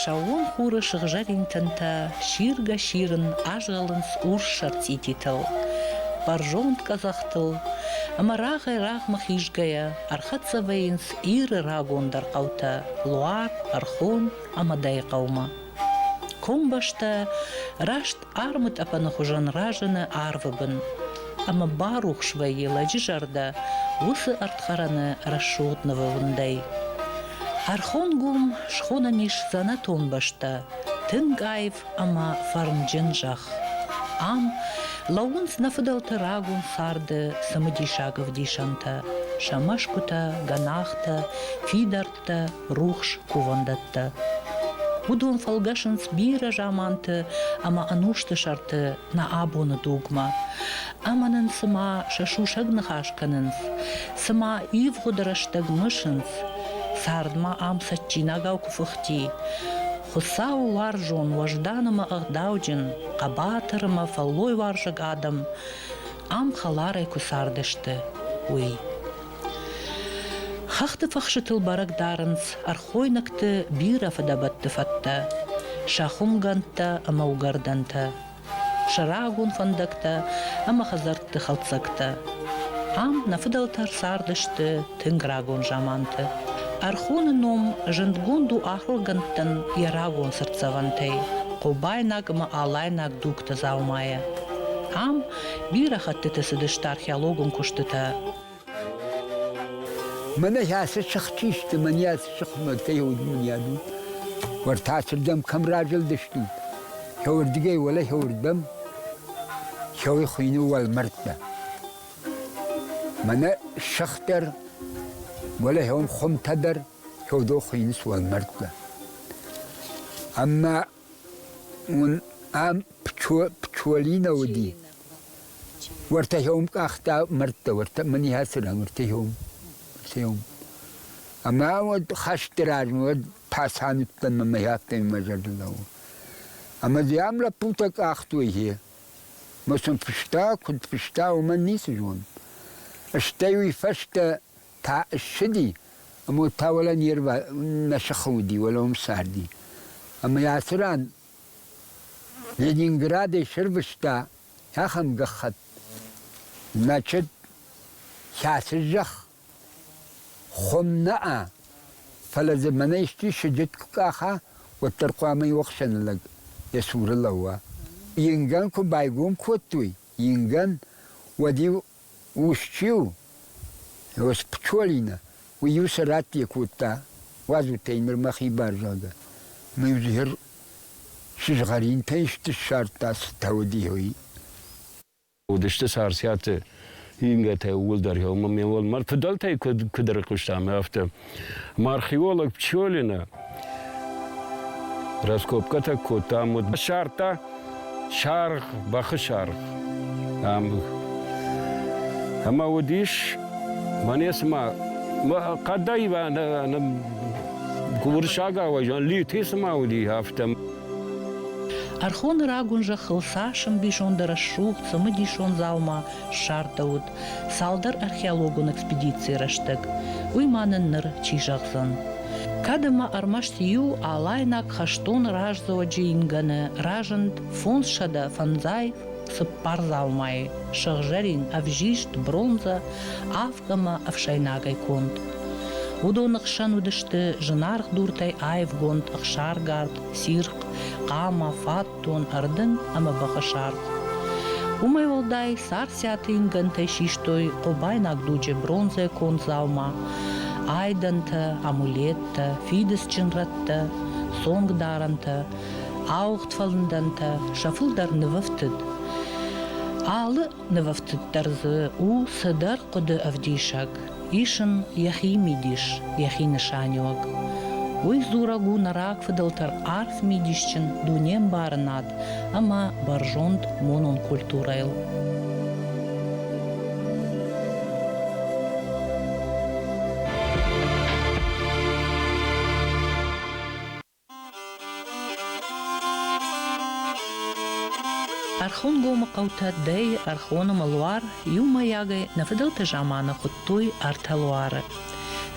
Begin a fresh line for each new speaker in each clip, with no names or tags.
Сӕууон хуры сыгъзӕрин тынтӕ сиргӕ-сирын азгъӕлынц урс ӕрцъититыл, бӕрзонд къӕдзӕхтыл, ӕмӕ рагъӕй-рагъмӕ хизгӕйӕ ӕрхӕццӕ вӕййынц Иры рагондӕр хъӕутӕ Луар, Ӕрхон ӕмӕ Дӕйыхъӕумӕ. Комбӕстӕ раст Хъармы тъӕпӕны хуызӕн разыны арвы бын ӕмӕ барухс вӕййы лӕджы зӕрдӕ уыцы ӕрдхӕрӕны рӕсугъд нывондӕй. Хӕрхонгом схонӕн ис дзӕнӕтон бӕстӕ, тынг аив ӕмӕ фӕрнджын зӕхх. Ам лӕууынц нӕ фыдӕлты рагон царды цымыдисаг ӕвдисӕнтӕ, сӕ мӕсгуытӕ, гӕнахтӕ, фидар фӕлгӕсӕнттӕ, рухс кувӕндӕттӕ. Уыдон фӕлгӕсынц бирӕ заманты ӕмӕ ӕнусты сӕрты нӕ абоны дугмӕ. Ӕмӕ нын цыма сӕ сусӕг ныхас кӕнынц, цыма ивгъуыд рӕстӕг мысынц, цардмӕ ам цӕджджинагау куы фыхти. Хуыцауы уарзон, уӕздан ӕмӕ ӕгъдауджын, хъӕбатыр ӕмӕ фӕллойуарзаг адӕм ам хӕларӕй куы цардысты, уый. Хӕхты фӕхсытыл бӕрӕг дарынц ӕрхойнӕгты бирӕ фыдӕбӕтты фӕдтӕ, сӕ хуымгӕндтӕ ӕмӕ уыгӕрдӕнтӕ, сӕ рагон фӕндӕгтӕ ӕмӕ хӕдзӕртты хӕлддзӕгтӕ. Ам нӕ фыдӕлтӕ цардысты тынг рагон заманты. Ӕрхоны ном зындгонд у ахуыргӕндтӕн йӕ рагон цыртдзӕвӕнтӕй, хъобайнаг ӕмӕ алайнаг дугты дзаумайӕ. Ам Бирӕ хӕттыты цыдысты археологон куыстытӕ.
Мӕнӕ ацы сыхтисты, мӕнӕ ацы сыхъмӕгтӕй удмынӕд у. Уӕртӕ ацырдӕм кӕм разылдыстут? Кӕуырдыгӕй уӕлӕ кӕуырдӕм кӕуы хуыйны уӕлмӕрдтӕ. Мӕнӕ сых дӕр, уӕлӕ кӕуын хуымтӕ дӕр кӕуыдон хуыйынц уӕлмӕрдтӕ. Ӕмӕ Уын ӕм пчелинӕ уыди. Уӕртӕ хьом къахта мӕрдтӕ, уӕртӕ мын иӕ цыран уӕртӕ хьом, уӕртӕ хьом. Ӕмӕ уӕд хӕсты размӕ уӕд паца ныддӕн мӕ мӕ хъӕдтӕй мӕ зӕрдӕ лӕууы. Ӕмӕ дзы ам лӕппутӕ къахтой хе. Ма сын фыста, куыд фыста, уымӕн ницы зонын. Стӕй уый фӕстӕ Та ссыди, ӕмӕ уӕд та уалӕ не рва нӕ сыхы уыди, уалӕ уым царди. Ӕмӕ йӕ ацы ран Ленинградӕй сӕрвыста ахӕм гӕххӕтт, мӕчыт, кӕцы зӕхх хуым нӕа, фӕлӕ дзы мӕнӕ исчи сыджыт куы къаха, уӕддӕр хъуамӕ иу охсӕны лӕг йӕ цуры лӕууа. Ингӕн куы байгом кодтой, ингӕн, уӕд-иу Ус-чи у? Ос Пчолина, уый-иу сӕ раттӕ кодта, уадзутӕй нырмӕ хибар зӕгъгӕ. Мын згъӕр сызгъӕринтӕй ссардта цытӕ уыди, уый.
Уыдысты Царциаты ингӕтӕ ууыл дӕр, ӕмӕ ме уӕлмӕр фыдӕлтӕй куыд ӕрыхъуыстам, афтӕ. Археолог Пчелина раскопкӕтӕ кодта ам уыд сардта саргъ, бӕхы саргъ. Ам. Ӕмӕ уыдис, мӕне цыма, хъӕдӕй уырыссаг ауӕзӕн литы цыма уыди афтӕ.
Ӕрхоны рагон зӕххыл цас ӕмбисонд рӕсугъд, цымыдисон дзаума ссардӕуыд, цалдӕр археологон экспедицийы рӕстӕг, уый ма нын ныр чи зӕгъдзӕн. Кӕд ӕмӕ ӕрмӕст иу алайнаг хӕстон раздзоджы ингӕны разынд фондзсӕдӕ фӕндзай цыппар дзаумайы, сыгъзӕрин, ӕвзист, бронзӕ, авг ӕмӕ ӕфсӕйнагӕй конд. Уыдоны хсӕн уыдысты зынаргъ дуртӕй аивгонд ӕхсаргард, цирхъ, хъама, фат, тон ӕрдын ӕмӕ бӕхы саргъ. Уымӕй уӕлдай, царциаты ингӕнтӕй систой хъобайнаг дуджы бронзӕ кондзаумӕ, айдӕнтӕ, амулеттӕ, фидыцджын рӕттӕ, цонгдарӕнтӕ, ауыгъд фӕлындӕнтӕ сӕ фылдӕр нывӕфтыд. Алы Нывӕфтыддӕр дзы у цыдӕр хъуыды ӕвдисӕг, исын йӕхи мидис, йӕхи нысаниуӕг. Уый дзурӕг у нӕ рагфыдӕлтӕ арф мидисджын дунембарынад ӕмӕ бӕрзонд монон культурӕйыл. Ӕрхонгомы хъӕутӕ Дӕйы, Ӕрхоны мылуар иумӕйагӕй нӕ фыдӕлты заманы хуыдтой ӕртӕ луары.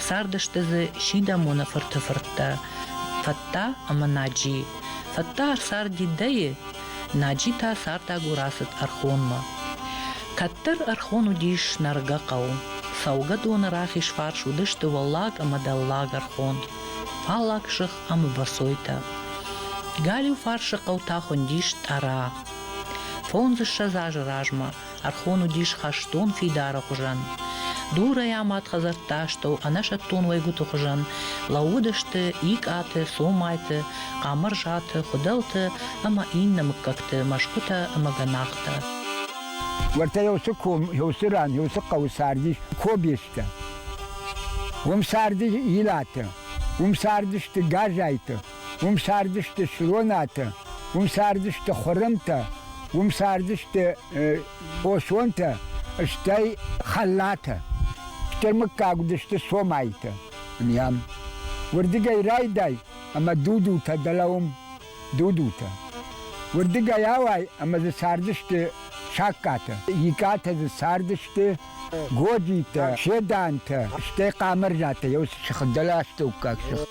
Цардысты дзы Сидӕмоны фырты фырттӕ Фӕттӕ ӕмӕ Наджи. Фӕттӕ ӕрцарди Дӕйы, Наджи та цардӕгур ацыд Ӕрхонмӕ. Кӕддӕр Ӕрхон уыдис нӕргӕ хъӕу. Цӕугӕдоны рахиз фарс уыдысты Уӕллаг ӕмӕ Дӕллаг Ӕрхон. Паллаг сых ӕмбӕрцойтӕ. Галиу фарсы хъӕутӕ хуындис Тъӕра. Фондзыссӕдз азы размӕ ӕрхон уыдис хӕстон фидары хуызӕн. Дурӕй амад хӕдзӕртты астӕу ӕнӕсӕттон уӕйгуыты хуызӕн лӕууыдысты икъаты, цомайты, хъамырзаты, хуыдӕлты ӕмӕ иннӕ мыггӕгты мӕсгуытӕ ӕмӕ гӕнахтӕ.
Уӕртӕ еуцы ком, еуцы ран, еуцы хъӕуы цардис кобестӕ. Уым царди Илаты, уым цардысты Газайты, уым цардысты Слонаты, уым цардысты Хуырымтӕ, уым цардысты Хосонтӕ, стӕй Хӕллатӕ. Стӕй мыггаг уыдысты Цомайты. Ам. Уырдыгӕй райдай ӕмӕ Дудутӕ дӕлӕ уым дудутӕ. Уырдыгӕй ауай ӕмӕ дзы цардысты саккатӕ, икатӕ дзы цардысты Годитӕ, Седантӕ, стӕй Хъамӕрзатӕ, еу сыгъдӕластӕуккаг сых.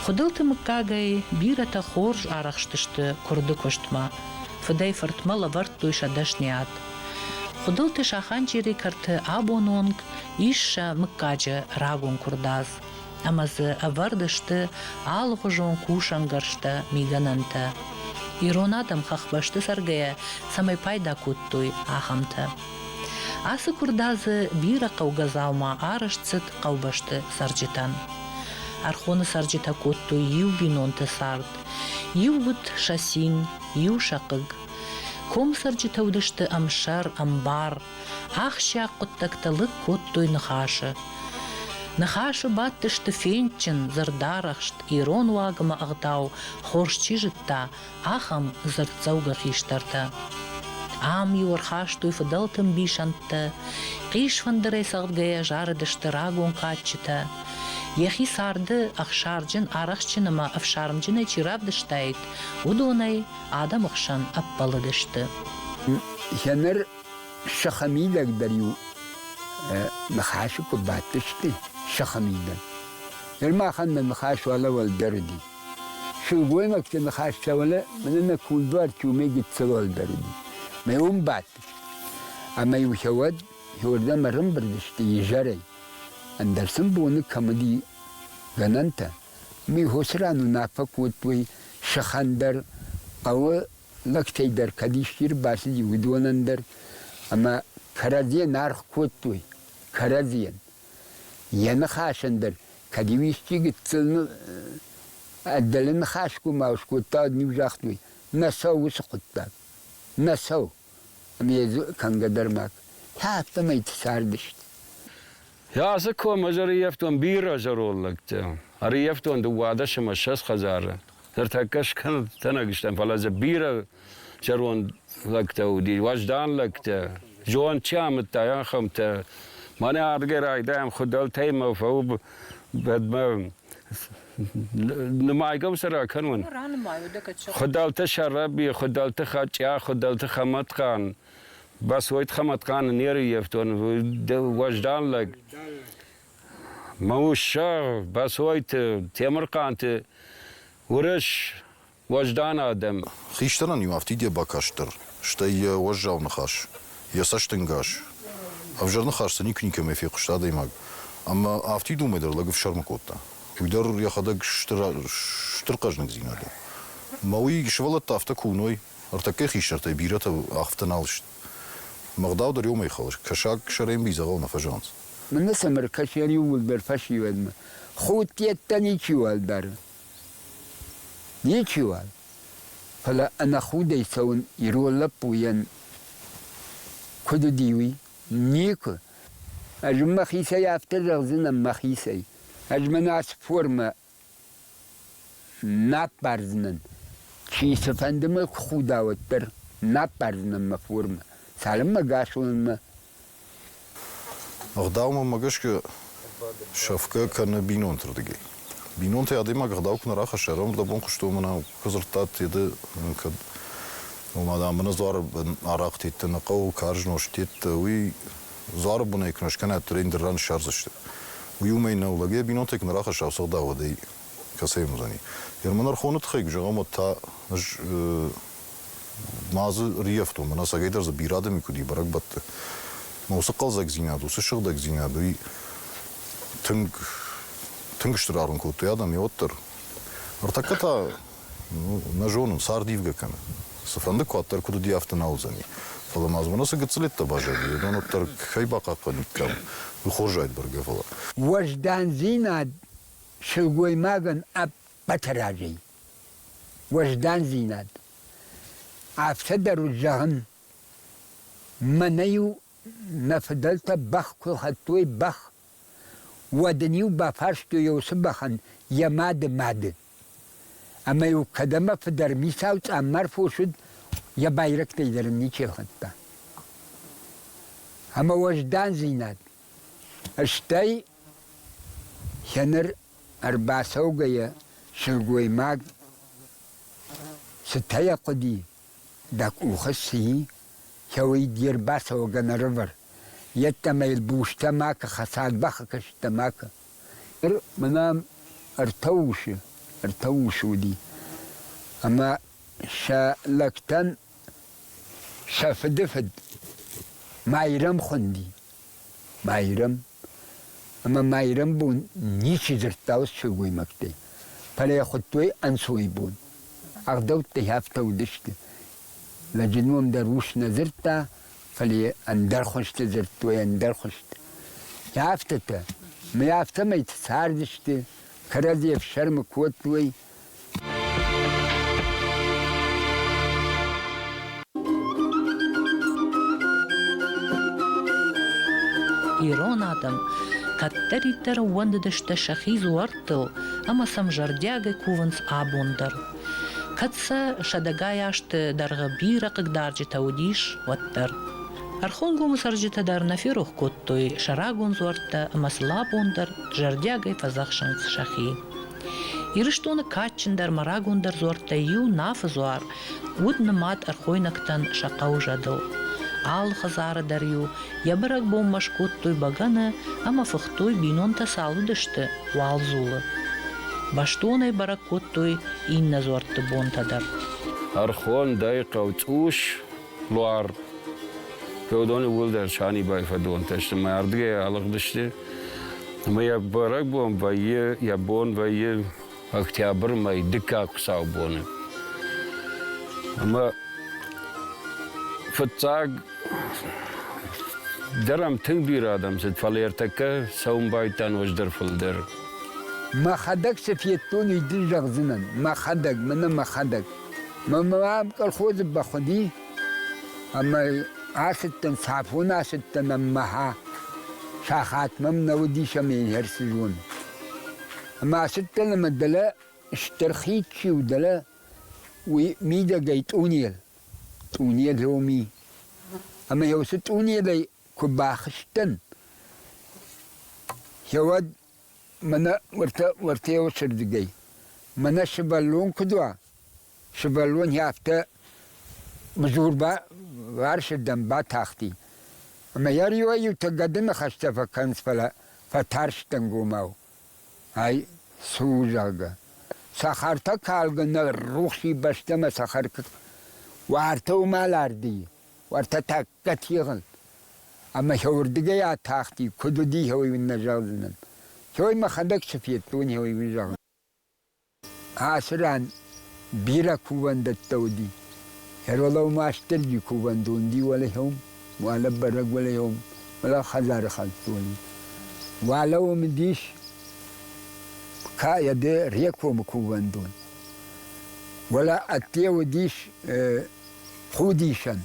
Хуыдылты мыггагӕй бирӕтӕ хорз арӕхстысты куырды куыстмӕ. Фыдӕй-фыртмӕ лӕвӕрдтой сӕ дӕсниад. Хуыдылты Саханджери кӕрты абон онг ис сӕ мыггаджы рагон куырдадз. ӕмӕ дзы ӕвӕрд сты алыгъуызон кусӕнгӕрзтӕ, мигӕнӕнтӕ. Ирон адӕм хӕхбӕсты цӕргӕйӕ цӕмӕй пайда кодтой, ахӕмтӕ. Ацы куырдадзы бирӕ хъӕугӕ дзаума арӕзт цыд хъӕубӕсты цӕрджытӕн. Ӕрхоны цӕрджытӕ кодтой иу бинонты цард. Иу уыд сасин, иу сӕ хъыг. Комы цӕрджытӕ уыдысты ӕмсӕр, ӕмбар, Ахсӕг хъуыддӕгтӕ лыг кодтой ныхасы. Ныхасы бадтысты фендджын, дзырдарӕхст, ирон уагмӕ ӕгъдау хорз чи зыдта, ахӕм дзырддзӕугӕ хистӕртӕ. Ам-иу ӕрхастой фыдӕлты мбисӕндтӕ, хъисфӕндырӕй цӕгъдгӕйӕ зарыдысты рагон кадджытӕ. Йӕхи царды ӕхсарджын, арӕхстджын ӕмӕ ӕфсармджынӕй чи равдыстаид, уыдонӕй адӕмы хсӕн ӕппӕлыдысты.
Фӕлӕ ныр Сӕхӕ мидӕг дӕр-иу ныхасы куы бадтысты, сӕхӕ мидӕг. Ныр махӕн мӕ ныхас уӕлӕ-уӕл дӕр уыди. Сылгоймӕгты ныхас сӕ уӕлӕ мӕнӕ нӕ кундуар Тюмӕй гыццылуӕл дӕр уыди. Мӕ уым бадтысты. Ӕмӕ-иу сӕ уӕд иуырдӕм ӕрӕмбырдысты изӕрӕй. Ӕндӕр сын боны кӕм уыди гӕнӕнтӕ. Уым-иу хосы ран уынаффӕ кодтой, сӕхӕн дӕр хъӕуы лӕгтӕй дӕр кӕд исчи рбацыди, уыдонӕн дӕр, ӕмӕ кӕрӕдзийӕн аргъ кодтой, кӕрӕдзийӕн. Йӕ ныхасӕн дӕр, кӕд-иу исчи гыццыл ӕддӕлы ныхасгомау скодта, уӕд-иу загътой, нӕ цӕу уыцы хъуыддаг, нӕ цӕу. Ӕмӕ йӕ кӕнгӕ дӕр ма та афтӕмӕй цардысты.
Я дзы ком, ӕз ӕрыййӕфтон бирӕ зӕронд лӕгтӕ. Ӕрыййӕфтон дыууадӕс ӕмӕ ссӕдз хӕдзары. Ныртӕккӕ скӕнӕг стӕм, фӕлӕ дзы бирӕ зӕронд лӕгтӕ уыди, уӕздан лӕгтӕ. Зонд чи амыдта, ахӕмтӕ. Мӕнӕ ардгӕй райдайӕм хуыдӕлтӕимӕ фӕу бӕдмӕ. Нымайгӕм сӕ ракӕнон? Хуыдӕлты Сӕрӕби, Хуыдӕлты Хачъа, Хуыдӕлты Хӕмӕтхъан, Басойты Хӕмӕтхъаны не рыййӕфтон, уӕздан лӕг. Мауссӕ Бӕцойты Темырхъанты уырыс уӕздан адӕм. Хистӕрӕн-иу афтид
йӕ бакастдӕр, стӕй йӕ уӕззау ныхас, йӕ цӕстӕнгас. Ӕвзӕр ныхас дзы никуы никӕмӕй фехъуыста адӕймаг, ӕмӕ афтид уымӕй дӕр лӕг ӕфсӕрмы кодта. Уый дӕр йӕхӕдӕг стыр хъӕздыгдзинад у. Мӕ уый сывӕллӕттӕ афтӕ куы уыной, ӕртӕккӕй хистӕртӕй бирӕтӕ афтӕ нал сты. Мыгъдау дӕр иумӕ хылыс, кӕсаг сӕрӕй мидзӕгъӕл нӕ фӕзӕгъынц. Мын сӕмыр
кӕсӕр иууылдӕр фӕсивӕдмӕ худтӕттӕ ничиуал дары. Ничиуал. Фӕлӕ ӕнӕхудӕй цӕуын ирон лӕппуйӕн куыд уыди, уый? Никуы. Ӕз мӕхицӕй афтӕ зӕгъдзынӕн мӕхицӕй. Ӕз мӕ нард формӕ Ма аппардзынӕн, чи цыфӕнды мӕ куы худа, уӕддӕр. Ма аппардзынӕн мӕ формӕ, цалынмӕ гас уынынмӕ.
Ӕгъдаумӕ мӕ гӕсгӕ сафгӕ кӕны бинонты рдыгӕй. Бинонтӕй адӕймаг ӕгъдау куы нӕ рахӕсса, ӕрӕмбырд абон хъуысты, уымӕн ӕмӕ куы дзырдтат, Теды, кӕд ома, дам, бынӕдзуары арахъ тедтӕ нӕ хъӕуы, карз нозт тедтӕ, уый Дзуары бонӕй куы нӕ скӕнӕт, рейндер ран ссардзысты. Уый уымӕй нӕу, лӕг йӕ бинонтӕй куы нӕ рахӕсса, сыгъдауадӕй кӕцӕй уыдзӕни. Ермонархоны тыххӕй куы зӕгъӕм, уӕд та ӕз ма дзы риӕфтон, мӕнӕ сагӕйдӕр дзы бирӕ адӕми куыд и бӕрӕгбӕтты. Мӕ уыцы хъӕлдзӕгдзинад, уыцы сыгъдӕгдзинад, уый тынг, тынг стыр аргъ кодтой адӕм, йӕ уӕддӕр. Ӕртӕккӕ та Нӕ зонын, цард ивгӕ кӕны. Цыфӕнды куаддӕр куыд уыди, афтӕ нӕ уыдзӕни. Фӕлӕ ма дзы мӕнӕ цы гыццылӕттӕ баззади, уыдон уӕддӕр кӕй бахъахъхъӕниккам, уый хорз зайд бӕргӕ, фӕлӕ. Уӕздандзинад
сылгоймагӕн ӕппӕты разӕй. Уӕздандзинад. Афтӕ дӕр уыд зӕгъын, мӕнӕ-иу нӕ фыдӕлтӕ бӕх куы хӕдтой, бӕх Уӕд ын-иу бафарстой уыцы бӕхӕн йӕ мады мады. Ӕмӕ-иу кӕд ӕмӕ фыдӕр мисау цъаммар фос уыд, йӕ байрӕгтӕй дӕр ын ничи ахуыдта. Ӕмӕ уӕздандзинад, стӕй сӕ ныр ӕрбацӕугӕйӕ сылгоймаг цытӕ хъуыди, Дӕ къухы сси? Кӕуый де рбацӕуӕгӕ нӕрывӕр. Йеддӕмӕ йыл бустӕ макӕ хӕцӕд, бахӕкӕсттӕ макӕ. Ныр мӕнӕм ӕртӕ усы, ӕртӕ усы уыди. Ӕмӕ сӕ лӕгтӕн сӕ фыды фыд Майрӕм хуынди. Майрӕм. Ӕма ма ирӕнбун ничи дзурдта уӕд сылгоймӕгтӕй, фалӕ йӕ хуыдтой ӕнцой бон. Ӕгъдӕуттӕй афтӕ уыдысты. Лӕджы ном дӕр ус нӕ дзырдта, фӕлӕ йӕ ӕндӕр хуызты дзырдтой ӕндӕр хуызты. Афтӕтӕ. Мӕ афтӕмӕй цардысты, кӕрӕдзи ӕфсӕрмы кодтой,
Ирон адӕм кӕддӕриддӕр ӕууӕндыдысты сӕхи дзуӕрттыл ӕмӕ сӕм зӕрдиагӕй кувынц абон дӕр. Кӕд сӕ сӕдӕгай азты дӕргъы бирӕ хъыгдарджытӕ уыдис, уӕддӕр. Ӕрхонгомы цӕрджытӕ дӕр нӕ ферох кодтой сӕ рагон дзуӕрттӕ ӕмӕ сын абон дӕр зӕрдиагӕй фӕдзӕхсынц сӕхи. Ирыстоны кадджындӕр ӕмӕ рагондӕр дзуӕрттӕй иу Нафы дзуар уыд нымад ӕрхойнӕгтӕн сӕ хъӕуы зӕдыл. Алы хӕдзары дӕр-иу йӕ бӕрӕгбонмӕ скодтой бӕгӕны ӕмӕ фыхтой бинонтӕ цы алыдысты уалдзулы. Бӕстонӕй бӕрӕг кодтой иннӕ дзуӕртты бонтӕ дӕр. Ӕрхонд
ӕй хъӕуцъус, Буар феодони уӕлдӕр санибай фӕдонтӕ сты мӕ ардгӕй алыгъдысты. Ӕмӕ йӕ бӕрӕгбон вӕййы, йӕ бон вӕййы октябры мӕй дыккаг хуыцаубоны. Ӕмӕ фыццаг дӕр ам тынг бирӕ адӕм цыд, фӕлӕ ӕртӕккӕ цӕуын байдтан ӕвӕздӕр фылдӕр.
Мӕхӕдӕг цы федтон, уый дын зӕгъдзынӕн. Мӕхӕдӕг, мӕнӕ мӕхӕдӕг. Мамӕ колхозы бахуыди, ӕмӕ ацыдтӕн, Сафон ацыдтӕн ӕммӕ сахат мӕм нӕ уыдис ӕмӕ ӕндӕр цы зон. Ӕмӕ ацыдтӕн ӕмӕ дӕлӕ стыр хид чи у, дӕлӕ уый мидӕгӕй тъунел, тъунел роми. Ӕмӕ йӕ уыцы тъунелӕй куы бахызтӕн, йӕ уӕд Мӕнӕ уӕртӕ уӕртеуӕцӕрдигӕй. Мӕнӕ сывӕллон куд уа, сывӕллон ӕдтӕ мзур баварсирдӕм батахти. Ӕма йӕ риуӕй-иутӕ гӕдыны хӕстӕ фӕкӕнынц, фӕлӕ фӕтарстӕнгомау, ай цы у, зӕгъгӕ. Сахартӕ калгӕ нӕ рухси бӕстӕмӕ сахар куы уартӕ уымӕл ардийы, уартӕ та Категын. Ӕмӕ сӕуырдыгӕй атахти, куыд уыди, уый уын нӕ зӕгъдзынӕн. Цӕй, мӕхӕдӕг цы федтон, уый уын зӕгъын. Ацы ран бирӕ кувӕндӕттӕ уыди. Ӕрвылау Мастырджи кувӕндон уыди уӕлӕхъӕум, уӕлӕ бӕрӕг уӕлӕхъӕум, уӕлӕ хӕдзары хӕдзони. Уӕлӕ уым уыдис КАЕД Рекомы кувӕндон. Уӕлӕ ӕдде уыдис худисӕн.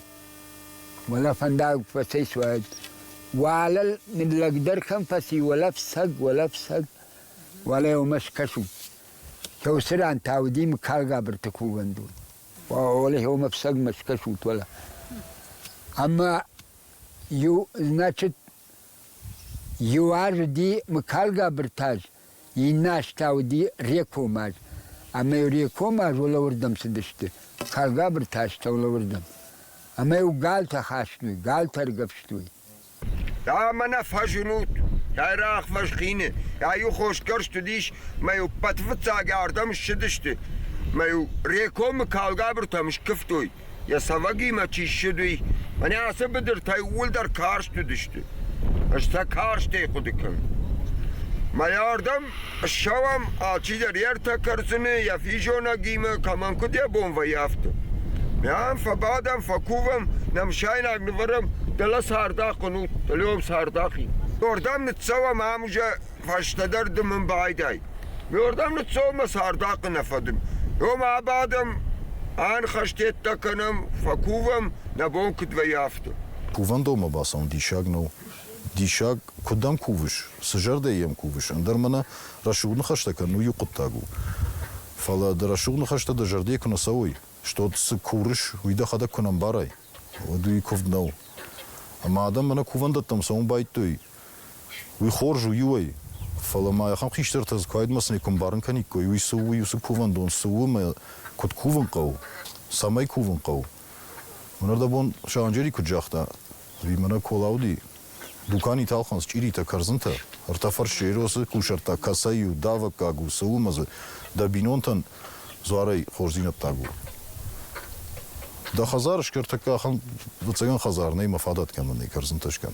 Уӕлӕ фӕндаг фӕцӕйцуаид. Уӕлӕ ныллӕгдӕр кӕм фӕци, уӕлӕ фцӕг, уӕлӕ фцӕг. Уӕлӕ уымӕ скӕсут. Кӕуыцы ран та уыди мыгкагабырты кувӕндон. Уӕлӕ уымӕ фцӕгмӕ скӕсут, уӕлӕ. Ӕмӕ иу, значит, иу аз уыди мыгкагабырты аз. Иннӕ азтӕ уыди Рекомаз, ӕмӕ-иу Рекомаз уӕлӕуырдӕм цыдысты, Калгабырты астӕу лӕуырдӕм, ӕмӕ-иу галтӕ
хастой,
галтӕ ӕргӕвстой. Дӕ-ма нӕ
фӕзынут! Кӕй рӕхвӕз хины йӕ-иу хосгӕрст уыдис, мӕ-иу пъӕтвыццагӕй ардӕм ссыдысты, мӕ-иу Рекомы калгабыртӕм скуывтой. йӕ цӕвӕгимӕ чи ссыд, уый. Мӕнӕ ацы быдыртӕй ууылдӕр карст уыдысты. Ӕз сӕ карстӕй хъуыды кӕнын. Мӕйардӕм ссӕуӕм, алчидӕр йе ртӕ кӕрдзыны, йӕ физонӕгимӕ, кӕмӕн куыд йӕ бон вӕййы, афтӕ. Мӕм фӕбадӕм, фӕкувӕм, нӕмсайнаг нывӕрӕм, дӕлӕ цардахъ уын ут, лӕуӕм цардахи. Уырдӕм ныццӕуӕм ам уже Фӕстӕдӕр ды мын байдай. Ме рдӕм ныццӕуынмӕ цардахъхъы нӕ фӕдын. Ом абадӕм, ӕнхӕстеттӕ кӕнӕм, фӕкувӕм, нӕ бон куыд вӕййы, афтӕ. Кувӕндонмӕ
бацӕуын диссаг нӕу. Диссаг, куыд дӕм кувыс, цы зӕрдӕйы йӕм кувыс, ӕндӕр мӕнӕ рӕсугъд ныхӕстӕ кӕнын иу хъуыддаг у. Фӕлӕ дӕ рӕсугъд ныхӕстӕ дӕ зӕрдӕйы куы нӕ цӕуой, стод цы курыс, уый дӕхӕдӕг куы нӕ ӕмбарай, уӕд уый куывд нӕу. Ӕмӕ адӕм мӕнӕ кувӕндӕттӕм цӕуын байдтой, Уый хорз у иуӕй, фӕлӕ ма ахӕм хистӕртӕ дзы куайдмӕ цӕмӕй куы ӕмбарын кӕниккой, уый цы у, уый уыцы кувӕндон цы у ӕмӕ куыд кувын хъӕуы, цӕмӕй кувын хъӕуы. Уынӕрдӕбон Саранджери куыд загъта, ӕви мӕнӕ Кола уыди, дукани талхъан счъиритӕ, кӕрдзынтӕ, ӕртӕ фӕрссеросы кусӕрттаг кӕцӕй у, давӕггаг у, цы у ӕмӕ дзы дӕ бинонтӕн дзуарӕй хорздзинӕддаг у. Дӕ хӕдзар скӕр тӕккӕ ахӕм, ӕвӕццӕгӕн хӕдзар нӕй, ма фадат кӕмӕн нӕй кӕрдзынтӕ скӕн.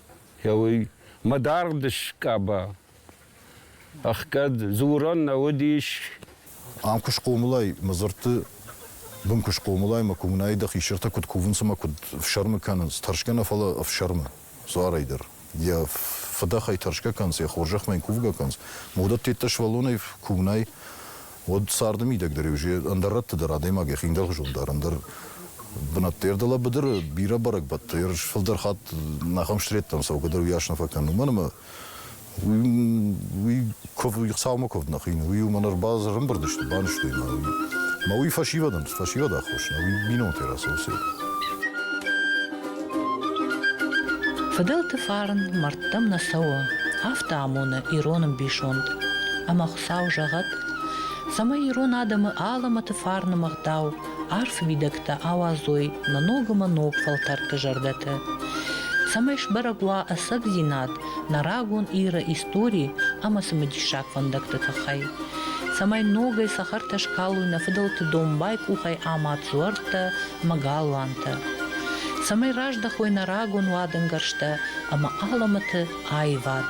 Гъеуый, мӕ даргъ дыскъаба. Ӕхгӕд дзурӕн нӕ уыдис. Ам куы
схъомылай, мӕ дзырдты бын куы схъомылай, мӕ коммунайы дӕ хисӕртӕ куыд кувынц ӕмӕ куыд ӕфсӕрмы кӕнынц, тӕрсгӕ нӕ, фӕлӕ ӕфсӕрмы дзуарӕй дӕр. Йӕ фыдӕхӕй тӕрсгӕ кӕнынц, йӕ хорзӕхмӕ йын кувгӕ кӕнынц, ма уыдӕттеддӕ сывӕллонӕй коммунай уӕд царды мидӕг дӕр иу ӕндӕр рӕтты дӕр адӕймаг йӕхи ӕндӕрхуызон дары, ӕндӕр бынӕтты ӕрдӕлӕ быдыры бирӕ бӕрӕгбӕттӕ ерыс фылдӕр хатт нахӕм стреттӕн цӕугӕдӕр уыйас нӕ фӕкӕнон, мӕнӕ ма уый куыв, цаумӕ куывд нӕ хин, уый уымӕн ӕрбазрымбырд сты, банызтой мӕ уый. Мӕ уый фӕсивӕдӕн, фӕсивӕд аххос нӕ, уый бинонтӕй рацӕуы сӕ. Фыдӕлты
фарн мӕрдтӕм нӕ цӕуы, афтӕ амоны ирон ӕмбисонд. Ӕмӕ Сау зӕгъӕд, цӕмӕй ирон адӕмы алӕмӕты фарны мыгъдау, арф уидӕгтӕ ауадзой нӕ ногӕмӕ ног фӕлтӕрты зӕрдӕты, цӕмӕй сбӕрӕг уа ӕцӕгдзинад нӕ рагон Иры истори ӕмӕ цымыдиссаг фӕндӕгты тыххӕй, цӕмӕй ногӕй цӕхӕртӕ скалой нӕ фыдӕлты домбай къухӕй амад дзуӕрттӕ ӕмӕ галуантӕ, цӕмӕй раздӕхой нӕ рагон уадӕнгӕрзтӕ ӕмӕ алӕмӕты аивад.